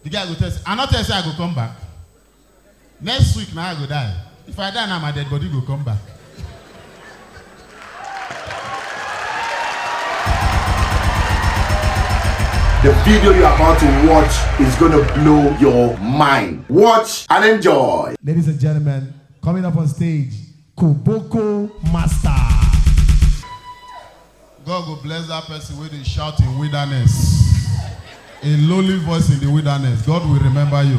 The guy go tell say, I no tell you say I go come back. Next week na I go die. If I die now, my dead body go come back. The video you're about to watch is gonna blow your mind. Watch and enjoy. Ladies and gentlemen, coming up on stage, Koboko Master. God go bless that person wey dey shout in wilderness, a lowly voice in the wilderness. God will remember you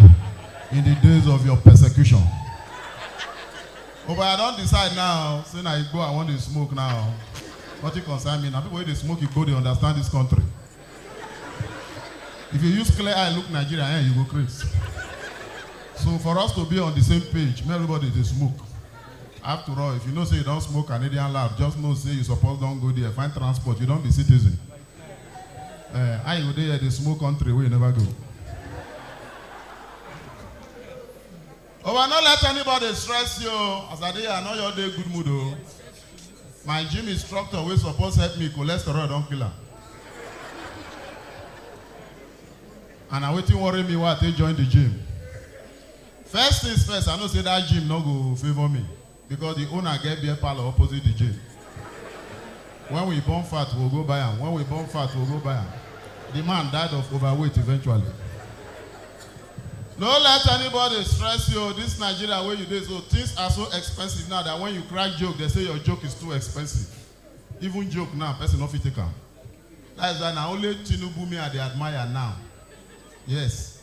in the days of your persecution. Oh, but I don decide now, say na Igbo I wan dey smoke now. Nothing concern me. Na people wey dey smoke Igbo dey understand this country. If you use clear eye look Nigeria, eh, you go craze. So for us to be on the same page, make everybody dey smoke. After all, if you know say you don smoke Canadian lab, just know say you suppose don go there, find transport, you don be citizen. Uh, how you go dey here dey smoke country wey you never go? Owa no let anybody stress you o. As I dey here, I know your dey good mood o. My gym instructor wey suppose help me, cholesterol don kill am. And na wetin worry me why I take join the gym. First things first, I know say that gym no go favour me because the owner get beer parlour opposite the gym. When we burn fat, we go buy am. When we burn fat, we go buy am. The man died of overweight eventually. No let anybody stress you. This Nigeria wey you dey so, things are so expensive now that when you crack joke, they say your joke is too expensive. Even joke now, person no fit take am. That is why na only Tinubu me I dey admire now. Yes.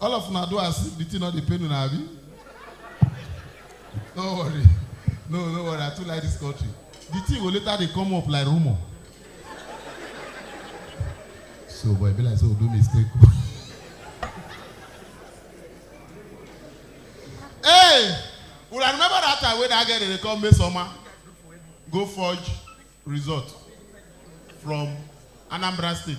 All of una do as if the thing no dey pain una abi? No worry. No, no worry. I too like this country. The thing go later dey come up like rumour. So boy, e be like say we do mistake. hey! Una remember that time wey that girl dey dey call Mesoma go forge result from Anambra State?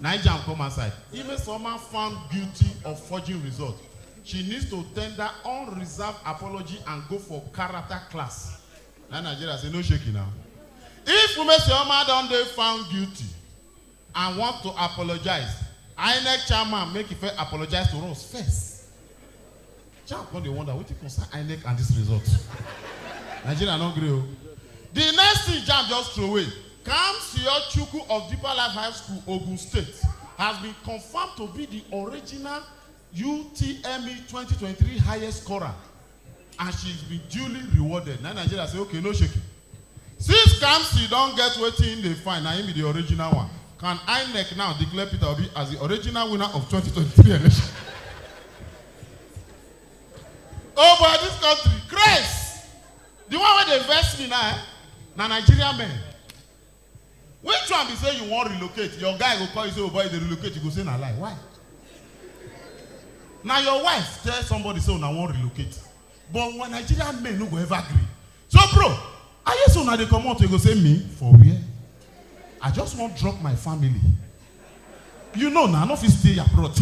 NiJam come outside If Ms Oma found guilty of forging result, she needs to tender unreserved apology and go for character class Na Nigeria say no shaking na If Umesioma don dey found guilty and want to apologize, Inec chairman make e first apologize to us first Chap come dey wonder wetin concern INEC and this result. Nigeria no gree o. The next thing Jam just throway, Kamsio Chukwu of Deeper Life High School, Ogun State, has been confirmed to be the original UTME 2023 highest scorer and she's been duly rewarded. Na Nigeria say okay, no shaking. Since Kamsi don get wetin im dey find, na im be di original one, can Inec now declare Peter Obi as di original winner of twenty twenty three election? Oh boy dis country craze! Di one wey dey vex me now eh, na Nigerian men. Which one be say you wan relocate, your guy go call you say oh boy you dey relocate, you go say na lie, why? Na your wife tell somebody say una wan relocate, But when Nigerian men no go ever agree. So bro, I hear so now they come out, you go say me for where? I just want drop my family. You know now, nah, I no fit stay abroad.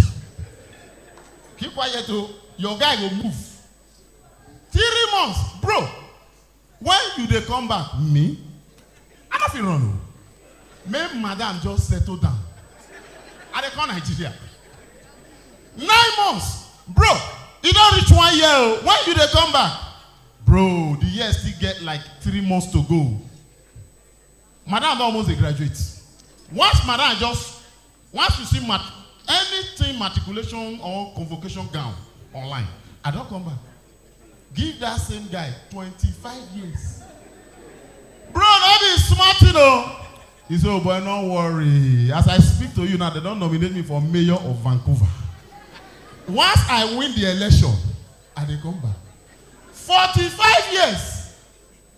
Keep quiet o, oh. your guy go move. Three months, bro, When you dey come back? Me? I no fit run o. Make madam just settle down. I dey come Nigeria. Nine months? Bro, e don reach one year o. When you dey come back? Bro, the year still get like three months to go. Madam don almost dey graduate. Once madam just once you see mat anything matriculation or convocation gown online, I don come back give that same guy twenty five years. Bro no be small thing o. He say, oh boy no worry as I speak to you now dem don nominate me for mayor of Vancouver. Once I win the election, I dey come back. Forty five years.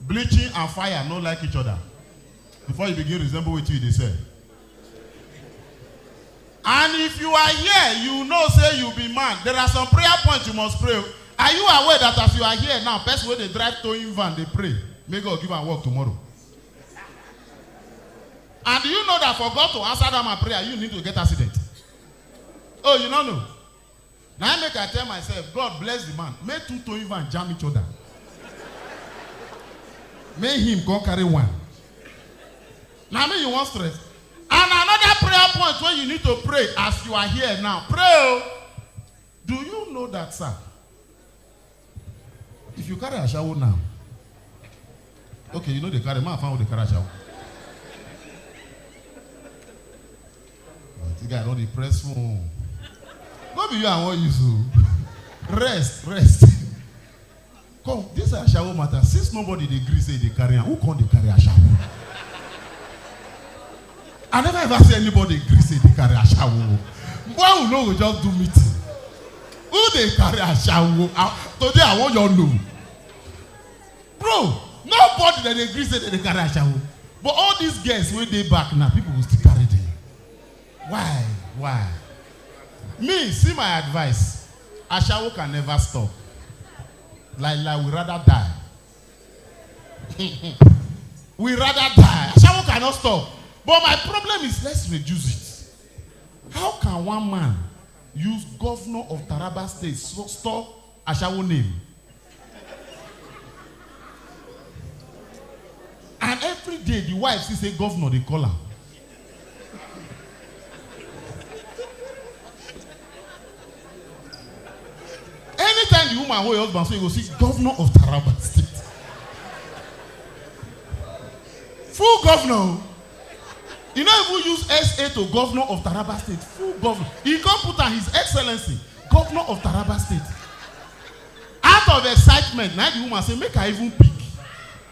Bleaching and fire no like each other before you begin resemble wetin you dey sell. And if you are here, you know say you be man, there are some prayer points you must pray. Are you aware that as you are here now, person wey dey drive towing van dey pray make God give am work tomorrow? And do you know that for God to answer that man prayer, you need to get accident? Oh, you no know? Na im make I tell myself God bless the man make two towing van jam each other make him come carry one. Na me you wan stress? And another prayer point wey you need to pray as you are here now, pray o. Do you know that sir, If you carry ashawo now, okay, you know they carry man fan with the carry ashawo. This guy don't depress phone. No be you I want use o. Rest, rest. Come, this ashawo matter. Since nobody dey gree say e dey carry am, who come dey carry ashawo? I never ever see anybody gree say dey carry ashawo. Why we no go just do meeting? Who dey carry ashawo? Ah, Today I wan your know. Bro, nobody that dey gree say dem dey carry ashawo. But all these girls wey dey back now, people go still carry them. Why? Why? Me, see my advice. Ashawo can never stop. Like like we rather die we rather die. Ashawo cannot stop. But my problem is let's reduce it. How can one man use governor of Taraba state so store Ashawo name? And every day the wife still say governor dey call am. Anytime the woman hold your husband, so you go see governor of Taraba State. Full governor. o. You no even use SA to governor of Taraba State. Full governor. He come put am his excellency, governor of Taraba State. Out of excitement, na the woman say make I even pick.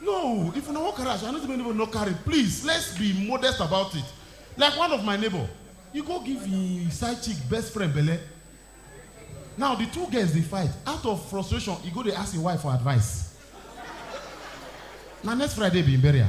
No, if una wan carry aso, I no say make anybody no carry, please let's be modest about it, like one of my neighbor, e go give him side chick best friend belle, now the two girls dey fight, out of frustration e go dey ask him wife for advice, na next Friday be him burial.